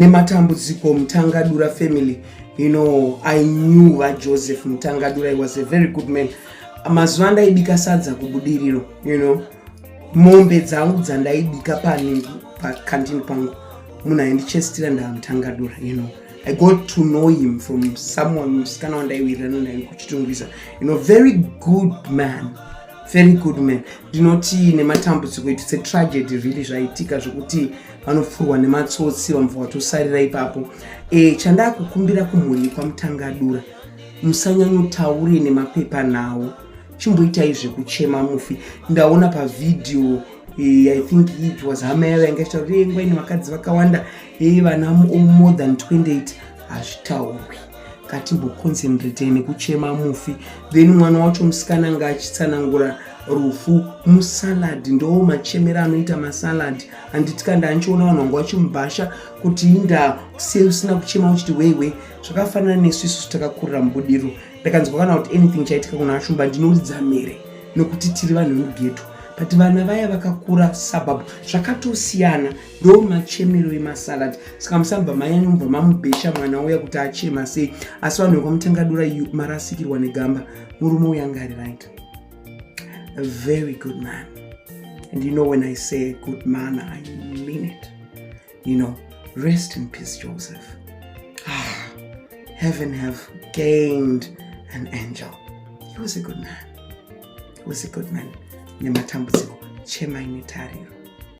nematambudziko mutangadura family you know i knew vajoseph mutangadura he was a very good man mazuva ndaibika sadza kubudiriro you know mombe dzangu dzandaibika pani pakantini pangu munhu aindichestira ndamutangadura you know i got to know him from someone musikana wandaiwirirana naye kuchitungwiza you know very good man very good man ndinotii nematambudziko it's a tragedy really zvaitika zvekuti vanopfurwa nematsotsi vamva vatosarira ipapo e, chandakukumbira kumhuri kwamutangadura musanyanyotaure nemapepa nawo chimboitai zvekuchema mufi ndaona pavhidhiyo e, i think it was hama yavo yanga ichitaura kuti engwa ine vakadzi vakawanda e, vana more than 28 hazvitaurwi ngatimboconcentrate nekuchema mufi then mwana wacho musikana anga achitsanangura rufu musalad ndowo machemera anoita masalad handiti kandi anchiona vanhu vanga vachimubhasha kuti inda sei usina kuchema uchiti weiwe zvakafanana nesu isusu takakurira mubudiriro ndakanzwa kana kuti anything chaitika kuna ashumba ndinoridza mhere nokuti tiri vanhu vemugeto but vana vaya vakakura suburb zvakatosiyana ndo machemero emasalad saka musabva manyanya mubva mamubhesha mwana uya kuti achema sei asi vanhu vekwamutangadura yu marasikirwa negamba murume uya ngari right a very good man and you know when i say a good man i mean it you know rest in peace joseph ah, heaven have gained an angel he was a good man he was a good man nematambudziko chemai netariro